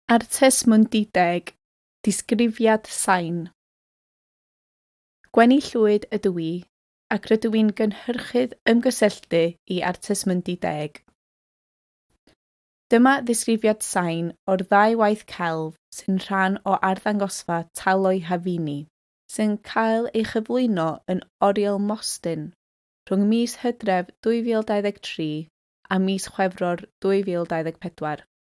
Artes Mundideg, Disgrifiad Sain. Gwenni Llwyd ydw i, ac rydw i'n gynhyrchydd ymgysylltu i Artes Mundideg. Dyma ddisgrifiad sain o'r ddau waith celf sy'n rhan o arddangosfa Talo'i Hafini, sy'n cael ei chyflwyno yn Oriel Mostyn rhwng mis Hydref 2023 a mis Chwefror 2024.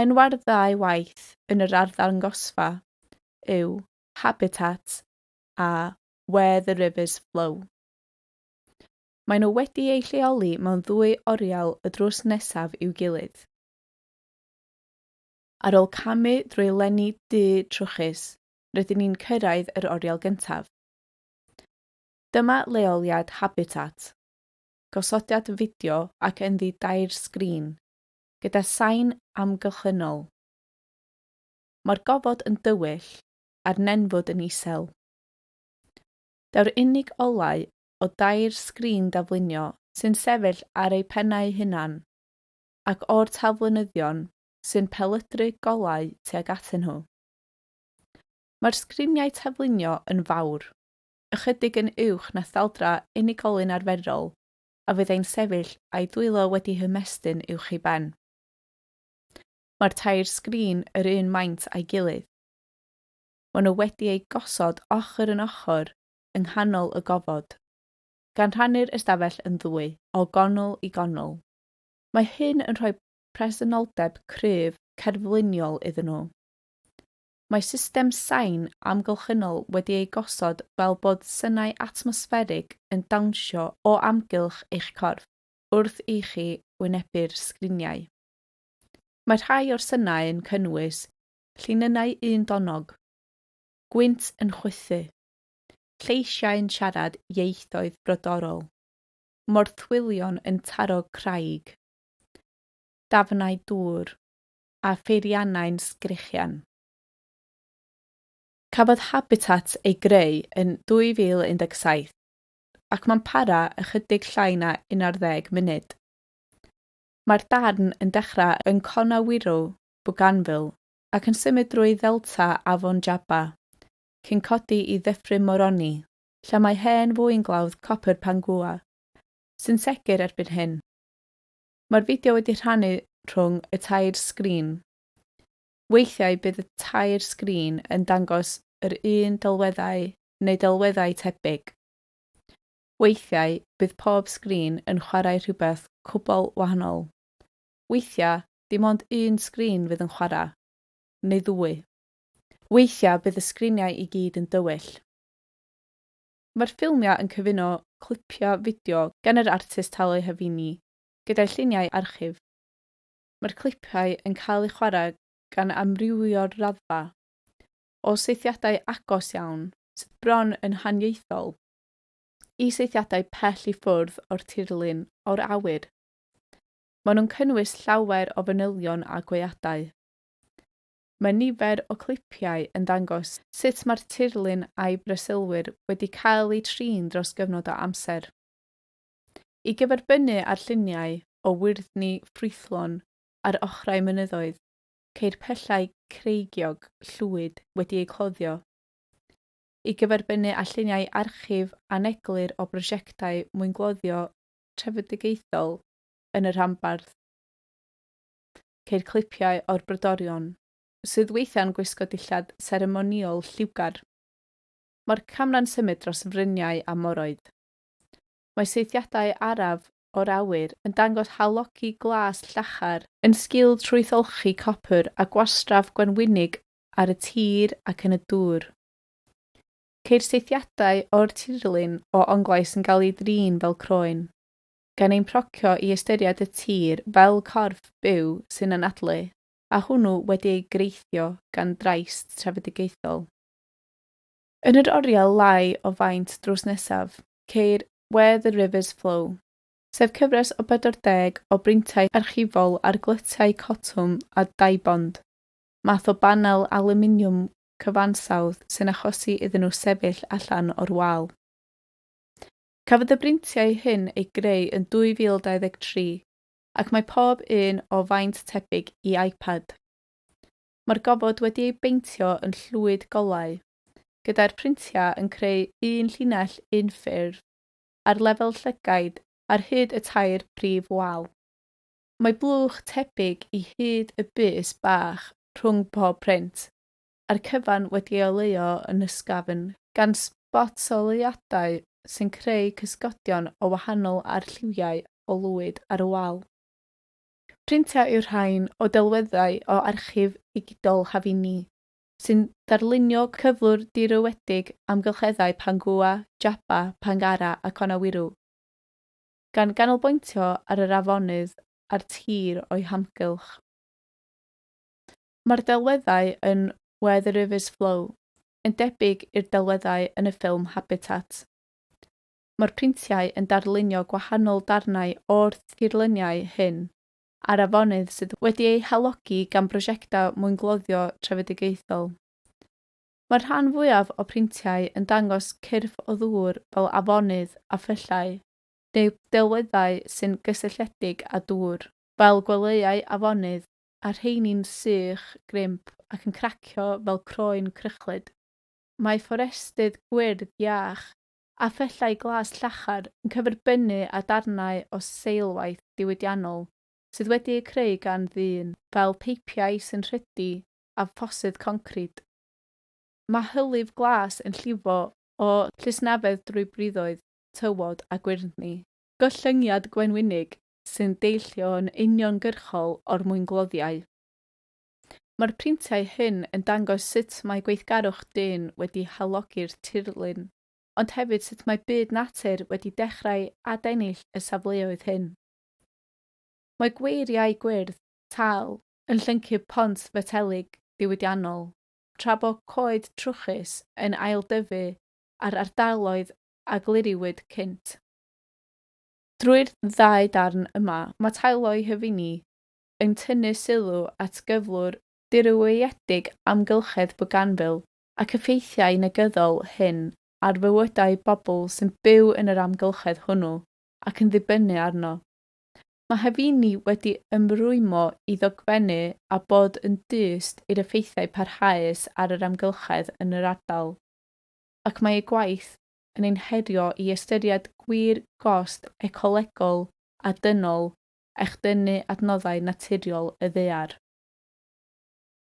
Enwau'r ddau waith yn yr arddangosfa yw 'Habitat' a 'Where the Rivers Flow'. Maen nhw wedi eu lleoli mewn ddwy oriel y drws nesaf i'w gilydd. Ar ôl camu drwy lenni du trwchus, rydyn ni'n cyrraedd yr oriel gyntaf. Dyma leoliad 'Habitat', gosodiad fideo ac ynddi dair sgrin, gyda sain amgylchynol. Mae'r gofod yn dywyll a'r nenfwd yn isel. Daw'r unig olau o dair sgrin daflunio sy'n sefyll ar eu pennau hunan, ac o'r talflynyddion sy'n pelydru golau tuag atyn nhw. Mae'r sgriniau taflunio yn fawr, ychydig yn uwch na thaldra unigolyn arferol, a fyddai'n sefyll a'i dwylo wedi hymestyn uwch ei ben. Mae'r tair sgrin yr un maint a'i gilydd. Maen nhw wedi eu gosod ochr yn ochr yng nghanol y gofod, gan rhannu'r ystafell yn ddwy, o gonl i gonl. Mae hyn yn rhoi presenoldeb cryf cerfluniol iddyn nhw. Mae system sain amgylchynol wedi ei gosod fel bod synau atmosfferig yn dawnsio o amgylch eich corff wrth i chi wynebu'r sgriniau. Mae rhai o'r synau yn cynnwys llinynnau undonog, gwynt yn chwythu, lleisiau'n siarad ieithoedd brodorol, morthwylion yn taro craig, dafnau dŵr, a pheiriannau'n sgrechian. Cafodd Habitat ei greu yn 2017 ac mae'n para ychydig llai na 11 munud. Mae'r darn yn dechrau yn Conawiro, Bougainville ac yn symud drwy ddelta Afon Jaba, cyn codi i ddyffryn Moroni, lle mae hen fwynglawdd copr Pangua, sy'n segur erbyn hyn. Mae'r fideo wedi rhannu rhwng y tair sgrin. Weithiau bydd y tair sgrin yn dangos yr un delweddau neu delweddau tebyg. Weithiau bydd pob sgrin yn chwarae rhywbeth cwbl wahanol. Weithiau dim ond un sgrin fydd yn chwarae, neu ddwy. Weithiau bydd y sgriniau i gyd yn dywyll. Mae'r ffilmiau yn cyfuno clipiau fideo gan yr artist Tale Havini gyda'i lluniau archif. Mae'r clipiau yn cael eu chwarae gan amrywio'r raddfa, o saethiadau agos iawn, sydd bron yn haniaethol, i saethiadau pell i ffwrdd o'r tirlun o'r awyr. Maen nhw'n cynnwys llawer o fanylion a gweadau. Mae nifer o clipiau yn dangos sut mae'r tirlun a'i breswylwyr wedi cael eu trin dros gyfnod o amser. I gyferbynnu â'r lluniau o wyrddni ffrwythlon ar ochrau mynyddoedd, ceir pyllau creigiog llwyd wedi eu cloddio. I gyferbynnu â lluniau archif aneglur o brosiectau mwyngloddio trefedigaethol yn y rhanbarth, ceir clipiau o'r brodorion, sydd weithiau'n gwisgo dillad seremonïol lliwgar. Mae'r camera'n symud dros fryniau a moroedd. Mae saethiadau araf o'r awyr yn dangos halogi glas llachar, yn sgil trwytholchi copr a gwastraff gwenwynig ar y tir ac yn y dŵr. Ceir saethiadau o'r tirlun o Onglau sy'n cael eu drin fel croen. gan ein procio i ystyried y tir fel corff byw sy'n anadlu, a hwnnw wedi ei greithio gan drais trefedigaethol. Yn yr oriel lai o faint drws nesaf, ceir Where the Rivers Flow, sef cyfres o 40 o brintiau archifol ar glytiau cotwm a daibond, math o banel alwminiwm cyfansawdd sy'n achosi iddyn nhw sefyll allan o'r wal. Cafodd y brintiau hyn eu greu yn 2023 ac mae pob un o faint tebyg i iPad. Mae'r gofod wedi ei beintio yn llwyd golau, gyda'r printiau yn creu un llinell unffurf ar lefel llygaid ar hyd y tair brif wal. Mae blwch tebyg i hyd y bys bach rhwng pob print. a'r cyfan wedi ei oleuo yn ysgafn gan sbotsyleuadau sy'n creu cysgodion o wahanol arlliwiau o lwyd ar y wal. Printiau yw'r rhain o delweddau o archif ddigidol Havini, sy'n darlunio cyflwr dirywedig amgylcheddau Pangua, Jaba, Pangara a Conawiru, gan ganolbwyntio ar yr afonydd a'r tir o'i hamgylch. Mae'r delweddau yn Where the Rivers Flow yn debyg i'r delweddau yn y ffilm Habitat. Mae'r printiau yn darlunio gwahanol darnau o'r tirluniau hyn ar afonydd sydd wedi eu halogi gan brosiectau mwyngloddio trefedigaethol. Mae'r rhan fwyaf o printiau yn dangos cyrff o ddŵr fel afonydd a phyllau, neu delweddau sy'n gysylltiedig â dŵr, fel gwelyau afonydd a rheini'n sych, grimp ac yn cracio fel croen crychlyd. Mae fforestydd gwyrdd iach a phellau glas llachar yn cyferbynnu â darnau o seilwaith diwydiannol sydd wedi eu creu gan ddyn, fel peipiau sy'n rhydu a ffosydd concrid. Mae hylif glas yn llifo o llysnafedd drwy briddoedd, tywod a gwyrddni. Gollyngiad gwenwynig sy'n deillio yn uniongyrchol o'r mwyngloddiau. Mae'r printiau hyn yn dangos sut mae gweithgarwch dyn wedi halogi'r tirlun, ond hefyd sut mae byd natur wedi dechrau adennill y safleoedd hyn. Mae gweiriau gwyrdd, tal, yn llyncu pont fetelig diwydiannol, tra bo coed trwchus yn ailddyfu ar ardaloedd a gliriwyd cynt. Drwy'r ddau darn yma, mae Tayloi Hyfini yn tynnu sylw at gyflwr dirywiedig amgylchedd Bougainville ac effeithiau negyddol hyn ar fywydau pobl sy'n byw yn yr amgylchedd hwnnw ac yn ddibynnu arno. Mae Hyfini wedi ymrwymo i ddogfennu a bod yn dyst i'r effeithiau parhaus ar yr amgylchedd yn yr ardal, ac mae ei gwaith yn ein herio i ystyried gwir gost ecolegol a dynol echdynnu adnoddau naturiol y ddaear.